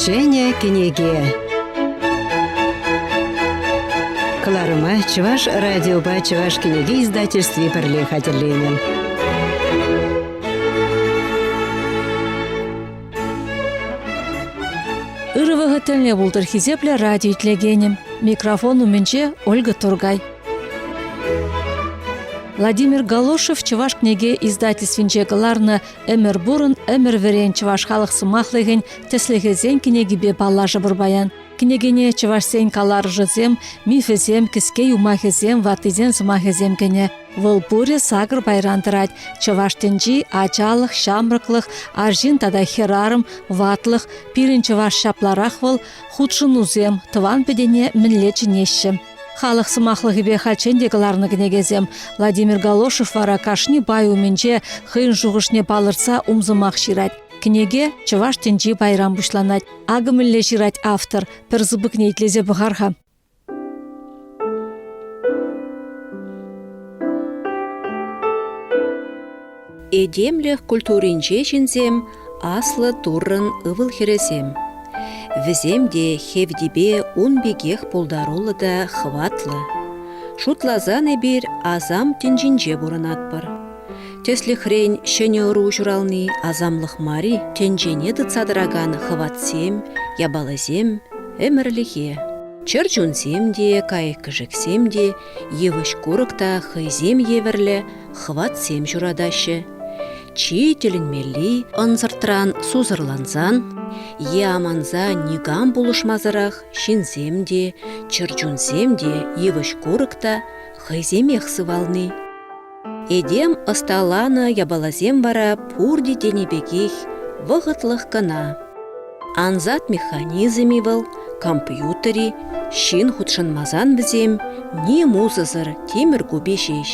Ҫӗнӗ кӗнеке кӑларӑма Чӑваш радиопа Чӑваш кӗнеке издательстви пӗрле хатӗрленӗ. Ырӑ вӑхӑт тӗлне пултӑр хисеплӗ радио итлекенӗ. Микрофон умӗнче Ольга Тургай. Владимир Галошев Чӑваш кӗнеке издательствинче кӑларнӑ «Ӗмӗр пурӑн, ӗмӗр вӗрен чӑваш халӑх сӑмахлӑхӗн тӗслӗхӗсен кӗнекипе паллашӑпӑр паян. Кӗнекене чӑвашсен каларӑшӗсем, мифӗсем, кӗске юмахӗсем, ваттисен сӑмахӗсем кӗнӗ. Вӑл пурӗ сакӑр пайран тӑрать. Чӑваш тӗнчи, ачалӑх, ҫамрӑклӑх, арҫын тата хӗрарӑм, ватлӑх, пирӗн чӑваш ҫапларах вӑл, хутшӑнусем, тӑван-пӗтене мӗнле чӗнеҫҫӗ. Халӑх сӑмахлӑхӗпе хальччен те кӑларнӑ кӗнекесем. Владимир Галошев вара кашни пай умӗнче хӑйӗн шухӑшне палӑртса умсӑмах ҫырать. Кӗнеке чӑваш тӗнчи пайран пуҫланать. Акӑ мӗнле ҫырать автор. Пӗр сыпӑкне итлесе пӑхар-ха. Этемлӗх культуринче ҫынсем аслӑ Туррӑн ывӑл-хӗрӗсем. Вӗсем те хевтепе ун пекех пултаруллӑ та хӑватлӑ. Шутласан эпир асам тӗнчинче пурӑнатпӑр. Тӗслӗхрен, ҫӗнӗ ӑру ҫурални асамлӑх мар-и, тӗнчене тытса тӑракан хӑватсем, япаласем, ӗмӗрлӗхе. Чӗрчунсем те, кайӑк-кӗшӗксем те, йывӑҫ-курӑк та хӑйсем евӗрлӗ хӑватсем ҫуратаҫҫӗ. Чи тӗлӗнмелли ӑнсӑртран сусӑрлансан е аманса никам пулӑшмасӑрах ҫынсем те, чӗрчунсем те, йывӑҫ-курӑк та хӑйсемех сывални. Этем ӑсталанӑ япаласем вара пурте тенӗ пекех вӑхӑтлӑх кӑна. Ансат механизм-и вӑл, компьютер-и, ҫын хутшӑнмасан вӗсем ним усӑсӑр тимӗр купи ҫеҫ.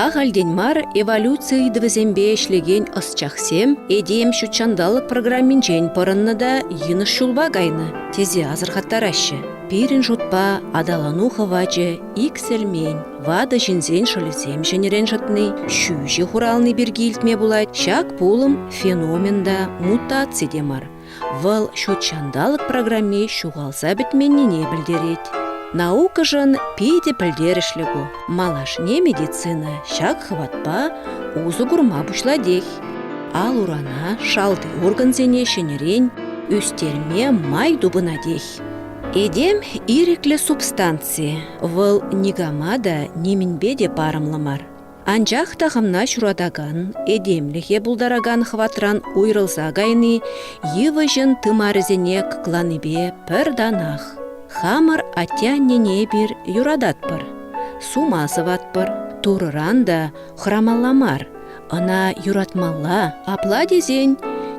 Ахальтен мар эволюци ыйтӑвӗсемпе ӗҫлекен ӑсчахсем этем ҫутҫанталӑк программинчен пӑрӑннӑ та йӑнӑш ҫулпа кайнӑ тесе асӑрхаттараҫҫӗ. Пирӗн шутпа аталану хӑвачӗ иксӗлмен. Ватӑ ҫынсен шӑлӗсем ҫӗнӗрен шӑтни, ҫӳҫӗ хурални пирки илтме пулать. Ҫак пулӑм феномен та, мутаци те мар. Вӑл ҫут ҫанталӑк программи ҫухалса пӗтменнине пӗлтерет. Наукӑшӑн питӗ пӗлтерӗшлӗ ку. Малашне медицина ҫак хӑватпа усӑ курма пуҫлатех. Ал-урана, шалти органсене ҫӗнӗрен ӳстерме май тупӑнатех. Этем ирӗклӗ субстанци. Вӑл никама та, нимӗнпе те парӑмлӑ мар. Анчах та хӑвна ҫуратакан, этемлӗхе пултаракан хӑватран уйрӑлса кайни йывӑҫӑн тымарӗсене кӑкланипе пӗр танах. Хамӑр атте-аннене эпир юрататпӑр, сума сӑватпӑр. Турӑран та хӑрамалла мар, ӑна юратмалла. Апла тесен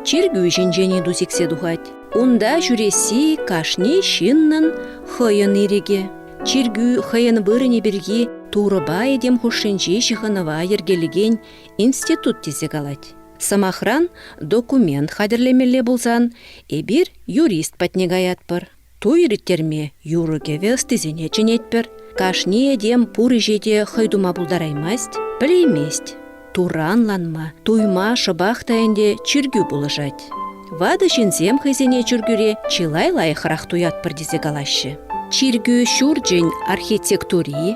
чиркӳ ҫинчен-и ту сиксе тухать. Унта ҫӳресси кашни ҫыннӑн хӑйӗн ирӗкӗ. Чиркӳ хӑйӗн вырӑнӗ пирки Турӑпа этем хушшинчи ҫыхӑнӑва йӗркелекен институт тесе калать. Сӑмахран, документ хатӗрлемелле пулсан эпир юрист патне каятпӑр. Туй ирттерме юрӑ-кӗвӗ ӑстисене чӗнетпӗр. Кашни этем пур ӗҫе те хӑй тума пултараймасть, пӗлеймест. Туранланма, туйма шӑпах та ӗнтӗ чиркӳ пулӑшать. Ватӑ ҫынсем хӑйсене чиркӳре чылай лайӑхрах туятпӑр тесе калаҫҫӗ. Чиркӳ ҫурчӗн архитектури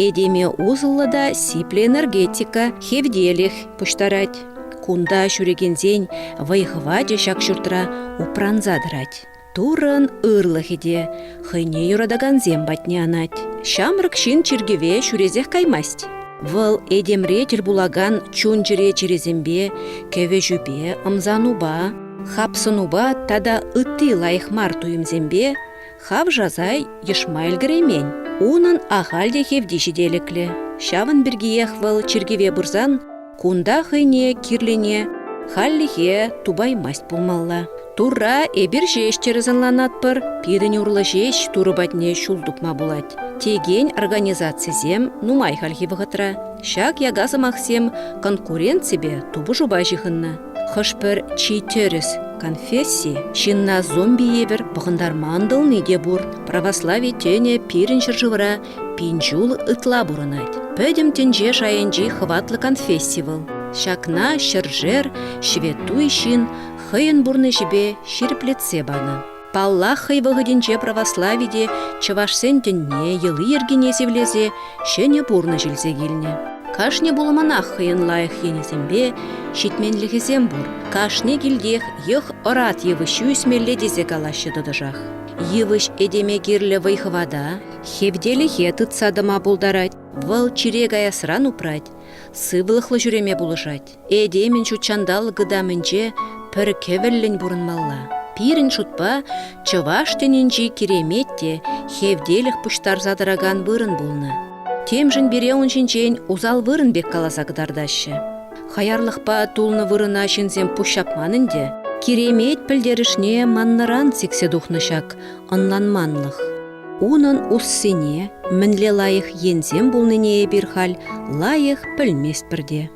этеме усӑллӑ та сиплӗ энергетика, хевтелӗх пуҫтарать. Кунта ҫӳрекенсен вӑй-хӑвачӗ ҫак ҫуртра упранса тӑрать. Туррӑн ырлӑхӗ те хӑйне юратакансем патне анать. Ҫамрӑк ҫын чиркӗве ҫӳресех каймасть. Вӑл этемре тӗл пулакан чун-чӗре чирӗсемпе, кӗвӗҫӳпе, ӑмсанупа, хапсӑнупа тата ытти лайӑх мар туйӑмсемпе хавшаса йӑшма ӗлкӗреймен. Унӑн ахаль те хевти ҫителӗклӗ. Ҫавӑн пиркиех вӑл чиркӗве пырсан Кунта хӑйне кирлине хальлӗхе тупаймасть пулмалла. Турра эпир ҫеҫ тӗрӗс ӑнланатпӑр, пирӗн урлӑ ҫеҫ Турӑ патне ҫул тупма пулать. Текен организацисем нумай хальхи вӑхӑтра ҫак яка сӑмахсем конкуренципе тупӑшупа ҫыхӑннӑ. Хӑш-пӗр чи тӗрӗс конфесси ҫынна зомби евӗр пӑхӑнтарма ӑнтӑлни те пур. Православи тӗнӗ пирӗн ҫӗршывра Пин ҫул ытла пурӑнать. Пӗтӗм тӗнче шайӗнчи хӑватлӑ конфесси вӑл. Ҫакна ҫӗршер ҫветтуй ҫын хӑйӗн пурнӑҫӗпе ҫирӗплетсе панӑ. Паллах, хӑй вӑхӑтӗнче православи те чӑвашсен тӗнне, йӑли-йӗркине сивлесе ҫӗнӗ пурнӑҫ илсе килнӗ. Кашни пулӑманах хӑйӗн лайӑх енӗсемпе ҫитменлӗхӗсем пур. Кашни килтех йӑх ӑрат йывӑҫҫи ӳсмелле тесе калаҫҫӗ тӑтӑшах. Йывӑҫ этеме кирлӗ вӑй-хӑвата, Хевтелӗхе тытса тӑма пултарать, вӑл чире каясран упрать, сывлӑхлӑ ҫӳреме пулӑшать. Этемӗн ҫут ҫанталӑк ытамӗнче пӗр кӗвӗллӗн пурӑнмалла. Пирӗн шутпа чӑваш тӗнӗнчи киремет те хевтелӗх пуҫтарса тӑракан вырӑн пулнӑ. Темшӗн пире ун ҫинчен усал вырӑн пек каласа кӑтартаҫҫӗ. Хаярлӑхпа тулнӑ вырӑна ҫынсем пуҫҫапман ӗнтӗ. Киремет пӗлтерӗшне маннӑран сиксе тухнӑ ҫак ӑнланманлӑх. Унӑн уссине, мӗнле лайӑх енсем пулнине эпир халь лайӑх пӗлместпӗр те.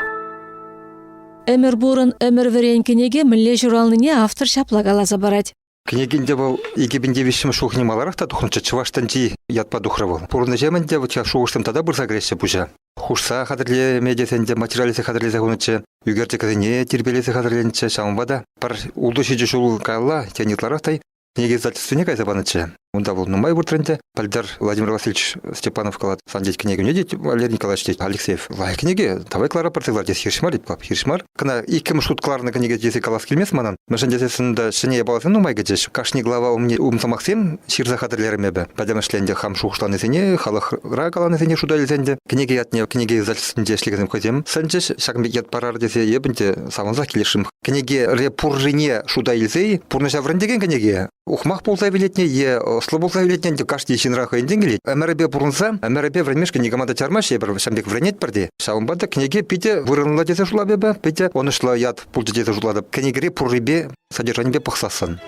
Ӗмӗр пурӑн, ӗмӗр вӗрен кӗнеке мӗнле ҫуралнине автор ҫапла каласа парать. Кӗнекинче вӑл 2005 шухне маларах та тухнӑччӗ, чӑваш тӗнчи ятпа тухрӗ вӑл. Пурӑннӑҫем ӗнтӗ вӑт ҫав шухӑшлӑн тата пырса кӗреҫҫӗ пуҫа. Хушса хатӗрлеме тесен те материаллесе хатӗрлесе хунӑччӗ, ӳкерчӗксене тирпейлесе хатӗрленчӗ, ҫавӑнпа та пӗр ултӑ ҫичӗ ҫул каялла, тен, ытларах та Кӗнеке издательствине кайса панӑччӗ. Унта вӑл нумай выртрӗ ӗнтӗ. Пӗлтӗр Владимир Васильевич Степанов калать, сан тет кӗнекене тет Валерий Николаевич тет Алексеев лайӑх кӗнеке, давай кӑлара пӗртсе кӑлар тет. Хирӗҫ мар тет пап, хирӗҫ мар. Кӑна иккӗмӗш хут кӑларнӑ кӗнеке тесе калас килмест манӑн. Мӗншӗн тесессӗн та ҫӗнӗ япаласем нумай кӗчӗҫ. Кашни глава умне умсӑмахсем ҫырса хатӗрлерӗм эпӗ. Пӗтӗмӗшле ӗнтӗ хам шухӑшланисене, халӑхра каланисене шута илсе ӗнтӗ кӗнеке ятне кӗнеке издательствинче ӗҫлекенсем хӑйсем сӗнчӗҫ. Ҫакӑн пек ят парар тесе эп ӗнтӗ савӑнсах килӗшрӗм кӗнеке пуррине шута илсен пурнӑҫа вӗрентекен кӗнеке ухмах пулса вилетне е ӑслӑ пулса вилетне кашни ҫынра хӑйӗн тенкӗ илет. Ӗмӗрӗпе пурӑнса, ӗмӗрӗпе вӗренмешкӗн никама та чармаҫҫӗ эпир, ҫам пек вӗренетпӗр те. Ҫавӑнпа та кӗнеке питӗ вырӑнлӑ тесе шутлап эпӗ, питӗ ӑнӑҫлӑ ят пулчӗ тесе шутлатӑп. Кӗнекере пуррипе, содержанипе пӑхсассӑн.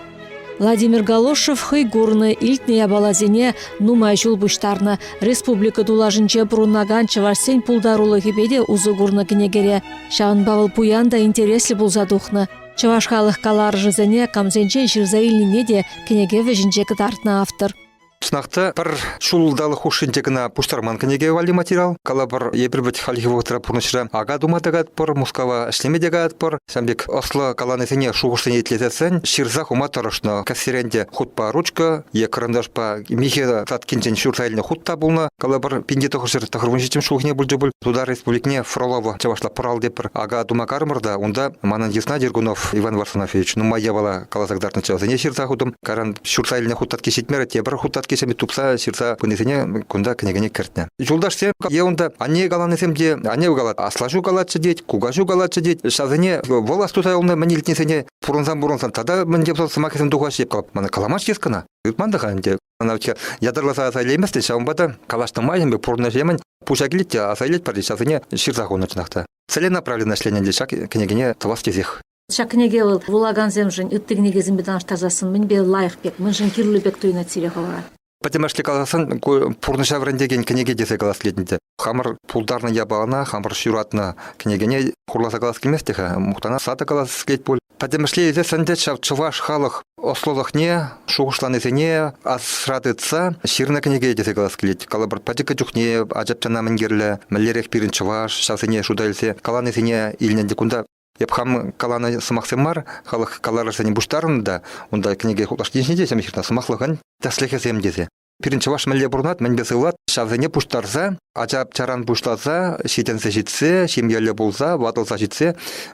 Владимир Галошев хӑй курнӑ, илтнӗ япаласене нумай ҫул пуҫтарнӑ. Республика тулашӗнче пурӑнакан чӑвашсен пултарулӑхӗпе те усӑ курнӑ кӗнекере. Ҫавӑнпа вӑл пуян та интереслӗ пулса тухнӑ. Чӑваш халӑх каларӑшӗсене камсенчен ҫырса илнине те кӗнеке вӗҫӗнче кӑтартнӑ автор. Сынах та пӗр ҫулталӑк хушшинче кӑна пуҫтарман кӗнеке валли материал. Калӑпӑр, эпир вӗт хальхи вӑхӑтра пурнӑҫра ака тума та каятпӑр, Мускава ӗҫлеме те каятпӑр. Ҫавӑн пек ӑслӑ каланисене шухӑшсене итлесессӗн ҫырса хума тӑрӑшнӑ. Кӗсьерен те хутпа ручка е кӑранташпа михӗ саткинчен ҫурса илнӗ хут та пулнӑ. Калӑпӑр, пинте тӑхӑрҫӗр тӑхӑрвунҫиччӗм ҫулхине пулчӗ пуль Тутар Республикине Фролово чӑвашла пӑрал тепӗр ака тума карӑмӑр та унта манӑн йысна Дергунов Иван Варсонафьевич нумай япала каласа кӑтартнӑччӗ вӗсене ҫырса хутӑм. Каран ҫуртса илнӗ хутатки ҫитмерӗ, тепӗр хутаткисем тупса ҫырса пынисене кунта кӗнекене кӗртнӗ. Юлташсем е унта анне каланисем те анне калать, аслаҫу калатчӗ тет, кукаҫу калатчӗ тет, ҫасене вӑл астуса юлнӑ мӗн илтнисене пурӑнсан-пурӑнсан тата мӗн те пулсан сӑмахӗсем тухаҫҫӗ, мана каламасть йыскӑна. Ыйтман та-ха ӗнтӗ. Ӑна ятарласа аса илейместӗн, ҫавӑнпа та калаҫнӑ майӑн пурнӑҫемӗн пуҫа килет те аса илетпӗр, ҫасене ҫырса хунӑ чӑнах та. Целенаправленно ӗҫленӗ ӗнтӗ ҫак кӗнекене тӑвас тесех. Ҫак кӗнеке вӑл вулакансемшӗн ытти кӗнекесемпе танлаштарсассӑн мӗнпе лайӑх пек, мӗншӗн кирлӗ пек туйӑнать сире хӑвӑра? Пӗтӗмӗшле каласан, ку пурнӑҫа вӗрентекен кӗнеке тесе калас килет ӗнтӗ. Хамӑр пултарнӑ япалана, хамӑр ҫуратнӑ кӗнекене хурласа калас килмест те-ха, мухтана сада калас килет пуль. Пӗтӗмӗшле илсессӗн те ҫав чӑваш халӑх ӑслӑлӑхне, шухӑшланисене асра тытса ҫырнӑ кӗнеке тесе калас килет. Калӑпӑр, пӗчӗккӗ чухне ача-пӑчана мӗн кирлӗ, мӗнлерех пирӗн чӑваш, ҫавсене шута илсе каланисене илнӗ ӗнтӗ кунта. Эп хам каланӑ сӑмахсем мар, халӑх каларӑшсене пуҫтарӑннӑ та унта кӗнеке лаштин ҫинче те ҫырнӑ сӑмахлӑхӑн тӗслӗхӗсем тесе. Пирӗн чӑваш мӗнле пурӑнать, мӗнпе сывлать, ҫавсене пуҫтарса, ача-пӑчаран пуҫласа ҫитӗнсе ҫитсе, ҫемьелле пулса, ватӑлса ҫитсе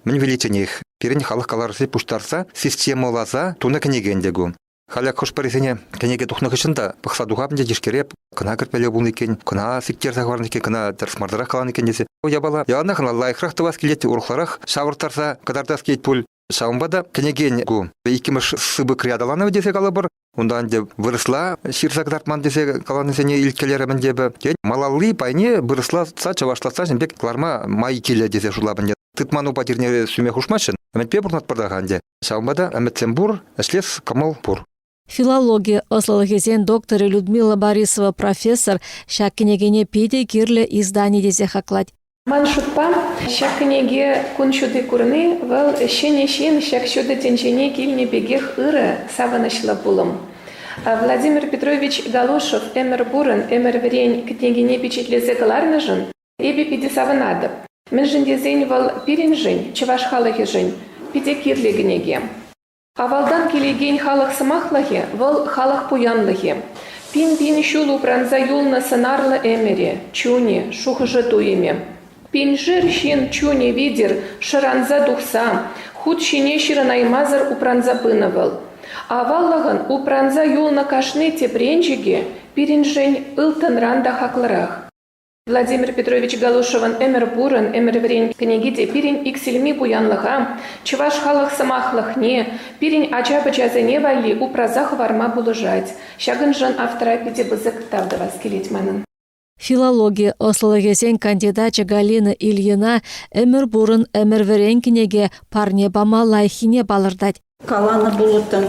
мӗн виличченех пирӗн халӑх каларӑшне пуҫтарса системӑласа тунӑ кӗнеке ӗнтӗ ку. Халӗ хӑш-пӗрисене кӗнеке тухнӑ хыҫҫӑн та пӑхса тухап ӗнтӗ тишкере кӑна кӗртмелле пулнӑ иккен, кӑна сиктерсе хӑварнӑ иккен, кӑна тӗрӗс мардарах каланӑ иккен тесе. Ку япала яланах ӑна лайӑхрах тӑвас килет, урӑхларах ҫавӑрттарса кӑтартас килет пуль. Ҫавӑнпа та кӗнекен ку иккӗмӗш сыпӑкри аталанӑвӗ тесе калӑпӑр. Унта ӗнтӗ вырӑсла ҫырса кӑтартман тесе каланисене илткелерӗм ӗнтӗ эпӗ. Тен, малалли пайне вырӑслатса, чӑвашлатса ҫын пек кӑларма май килӗ тесе шутлап ӗнтӗ. Тытман упа тирне сӳме хушмаҫҫӗ. Ӗмӗтпе пурӑнатпӑр та-ха ӗнтӗ. Ҫавӑнпа та ӗмӗтсем пур, ӗҫлес кӑмӑл пур. Филологи ӑслӑлӑхӗсен докторӗ Людмила Борисова профессор ҫак кӗнекене питӗ кирлӗ издани тесе хаклать. Ман шутпа, ҫак кӗнеке кун ҫути курни вӑл ҫӗнӗ ҫын ҫак ҫутӑ тӗнчене килнӗ пекех ырӑ, савӑнӑҫлӑ пулӑм. Владимир Петрович Галошев ӗмӗр пурӑн, ӗмӗр вӗрен кӗнекене пичетлесе кӑларнӑшӑн Эпӗ питӗ савӑнатӑп, мӗншӗн тесен вӑл пирӗншӗн, чӑваш халӑхӗшӗн, питӗ кирлӗ кӗнеке. Авалтан килекен халӑх сӑмахлӑхӗ вӑл халӑх пуянлӑхӗ. Пин-пин ҫул упранса юлнӑ сӑнарлӑ ӗмӗре, чунӗ, шухӑшӗ туйӑмӗ. Пиншер ҫын чунӗ витӗр шӑранса тухса, хут ҫине ҫырӑнаймасӑр упранса пынӑ вӑл. Аваллӑхӑн упранса юлнӑ кашни тӗпренчӗкӗ пирӗншӗн ылтӑнран та хаклӑрах. Владимир Петрович Галушевӑн «Ӗмӗр пурӑн, ӗмӗр вӗрен» кӗнеки те пирӗн иксӗлми пуянлӑха, чӑваш халӑх сӑмахлӑхне, пирӗн ача-пӑчасене валли упраса хӑварма пулӑшать. Ҫакӑншӑн автора питӗ пысӑк тав тӑвас килет манӑн. Филологи ӑслӑлӑхӗсен кандидачӗ Галина Ильина «Ӗмӗр пурӑн, ӗмӗр вӗрен» кӗнеке парне пама лайӑххине палӑртать. Каланӑ пулӑттӑн,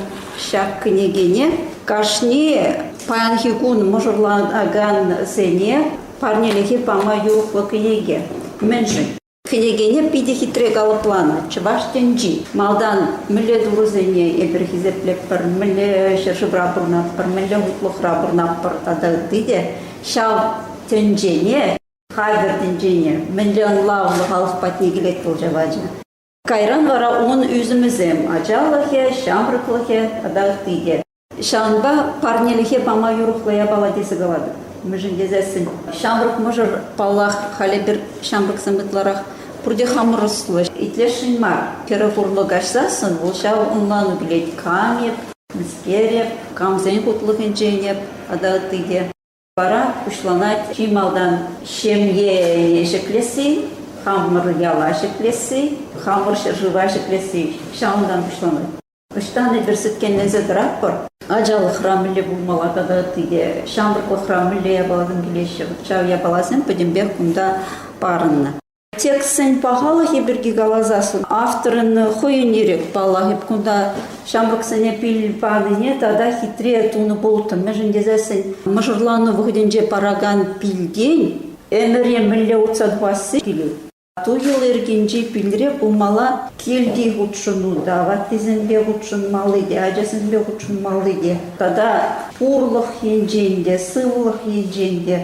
ҫак кӗнекене кашни паянхи кун мӑшӑрланакансене парнелӗхе пама юрӑхлӑ кӗнеке. Мӗншӗн? Кӗнекене питӗ хитре калӑпланӑ чӑваш тӗнчи. Малтан мӗнле турӑсене эпир хисеплетпӗр, мӗнле ҫӗршывра пурӑнатпӑр, мӗнле хутлӑхра пурӑнатпӑр тата ытти те. Ҫав тӗнчене, хатӗр тӗнчене мӗнле ӑнлавлӑ халӑх патне килет вӑл ҫав ача. Кайран вара ун ӳсӗмӗсем ачалӑхӗ, ҫамрӑклӑхӗ тата ытти те. Ҫавӑнпа парнелӗхе пама юрӑхлӑ япала тесе калатӑп. Мӗншӗн тесессӗн ҫамрӑк мӑшӑр, паллах, халӗ пӗр ҫамрӑксем ытларах пурте хамӑр ӑслӑ. Итлесшӗн мар. Пӗрӗх урлӑ каҫсассӑн вӑл ҫав ӑнлану килет. Кам эп, мӗскер эп, камсен хутлӑхӗнчен эп тата ытти те. Вара пуҫланать чи малтан ҫемье ҫӗклесси, хамӑр яла ҫӗклесси, хамӑр ҫӗршыва ҫӗклесси. Ҫавӑнтан пуҫланать. Ӑҫтан эпир сӗткенленсе тӑратпӑр? Ачалӑхра мӗнле пулмалла тата ытти те, ҫамрӑклӑхра мӗнле япаласем килеҫҫӗ? Ҫав япаласем пӗтӗмпех кунта парӑннӑ. Текстсен пахалӑхӗ пирки каласассӑн авторӑн хӑйӗн ирех паллах эп кунта ҫамрӑксене пил панине тата хитре тунӑ пулӑттӑм. Мӗншӗн тесессӗн мӑшӑрлану вӑхӑтӗнче паракан пилтен ӗмӗре мӗнле утса тухасси килет. Ту-юл йӗркинчи пилре пулмалла килти хутшӑну та, ваттисемпе хутшӑнмалли те, ачасемпе хутшӑнмалли те тата пурлӑх енчен те, сывлӑх енчен те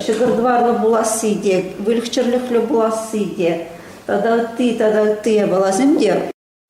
ҫӑкӑр-тӑварлӑ пуласси те, выльӑх-чӗрлӗхлӗ пуласси те тата ытти тата ытти япаласем те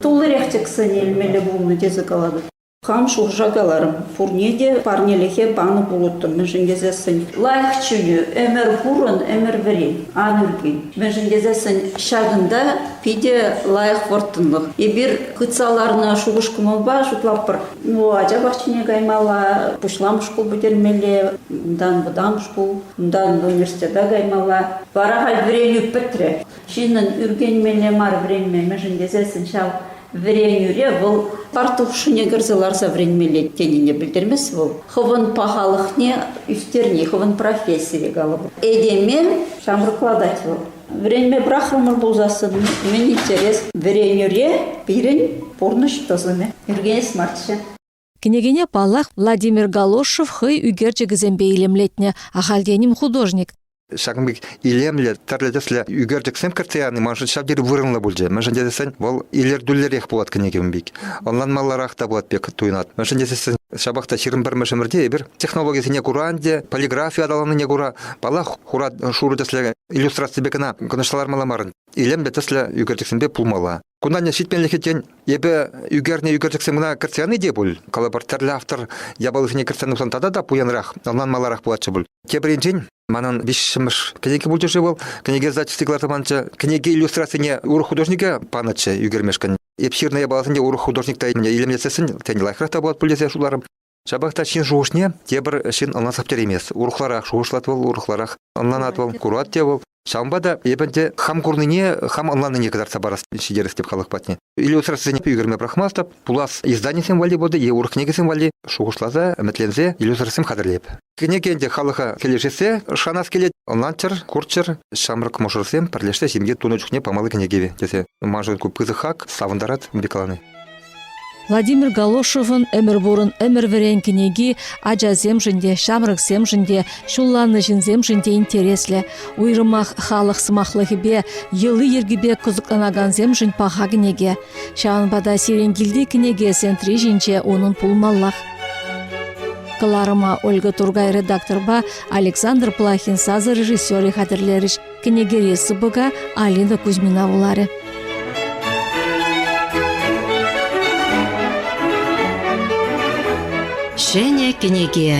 туллирех тӗксен илмелле пулнӑ тесе калатӑп. Хам шурша каларӑм, пурне те парнелӗхе панӑ пулӑттӑм, мӗншӗн тесессӗн лайӑх чӳлӳ, ӗмӗр пурӑн, ӗмӗр вӗри, ан ӳркен. Мӗншӗн тесессӗн ҫакӑнта питӗ лайӑх вӑрттӑнлӑх. Эпир хытса ларнӑ шухӑш-кӑмӑлпа шутлатпӑр, Ну, ача пахчине каймалла, пуҫламӑш шкул пӗтермелле, унтан вӑтам шкул, унтан университета каймалла. Вара халь вӗренӳ пӗтрӗ. Ҫыннӑн ӳркенмелле мар вӗренмемӗшӗн тесессӗн ҫав вӗренӳре вӑл партушине кӗрсе ларса вӗренмелле тенине пӗлтермест вӑл. Хӑвӑн пахалӑхне ӳстерни, хӑвӑн профессире, калӑпӑр. Этеме ҫамрӑклатать вӑл. Вӗренме пӑрахрӑмӑр пулсассӑн мӗн интерест? Вӗренӳре пирӗн пурнӑҫ тӑсӑмӗ ӳркенес марччӗ. Кӗнекене, паллах, Владимир Галошев хӑй ӳкерчӗкӗсемпе илемлетнӗ, ахальтен-им художник. Ҫакӑн пек илемлӗ, тӗрлӗ тӗслӗ ӳкерчӗксем кӗртсе яни маншӑн ҫав тери вырӑнлӑ пулчӗ. Мӗншӗн тесен вӑл илӗртӳллӗрех пулать кӗнекем пек. Ӑнланмалларах та пулать пек туйӑнать. Мӗншӗн тесен ҫапах та ҫирӗм пӗрмӗш ӗмӗрте эпир технологисене кура ӗнтӗ, полиграфи аталаннине кура, паллах, хура шурӑ тӗслӗ иллюстраципе кӑна кӑнӑҫса лармалла мар. Илемлӗ тӗслӗ ӳкерчӗксемпе пулмалла. Кунан ҫитменлӗхе тен, эпӗ ӳкернӗ ӳкерчӗксем кӑна кӗртсе яни те пуль. Калӑпӑр, тӗрлӗ автор япалисене кӗртсе тухсан тата та пуянрах, ӑнланмалларах пулатчӗ пуль. Тепринчен Манӑн виҫҫӗмӗш кӗнеке пулчӗ-ши вӑл? Кӗнеке издательстви кӑларса панчӗ. Кӗнеке иллюстрацине урӑх художнике панӑччӗ ӳкермешкӗн. Эп ҫырнӑ япаласене урӑх художник та илемлетсессӗн, тен, лайӑхрах та пулать пуль тесе шутларӑм. Ҫапах та ҫын шухӑшне тепӗр ҫын ӑна саптереймест. Урӑхларах шухӑшлать вӑл, урӑхларах ӑнланать вӑл, курать те вӑл. Ҫавӑнпа та эпӗ те хам курнине, хам ӑнланнине кӑтартса парас ҫитерес теп халӑх патне. Иллюстрацисене ӳкерме пӑрахмастӑп, пулас изданисем валли пулӗ е урӑх кӗнекесем валли шухӑшласа, ӗмӗтленсе иллюстрацисем хатӗрлеп. Кӗнеке ӗнтӗ халӑха килӗшесе шанас килет. Ӑнлантчӑр, курччӑр, ҫамрӑк мӑшӑрсем пӗрлешсе ҫемье тунӑ чухне памалли кӗнеке тесе. Маншӑн ку пысӑк хак, савӑнтарать Мирик Владимир Галошевӑн Ӗмӗр пурӑн, ӗмӗр вӗрен кӗнеки ачасемшӗн те, ҫамрӑксемшӗн те, ҫулланнӑ ҫынсемшӗн те интереслӗ. Уйрӑмах халӑх сӑмахлӑхӗпе, йӑли-йӗркипе кӑсӑкланакансемшӗн паха кӗнеке. Ҫавӑнпа та сирӗн килти кӗнеке сентри ҫинче унӑн пулмаллах. Кӑларӑма Ольга Тургай редакторпа Александр Плахин сасӑрежиссерӗ хатӗрлерӗҫ. Кӗнекери сыпӑка Алина Кузьмина вуларӗ. Ҫӗнӗ кӗнеке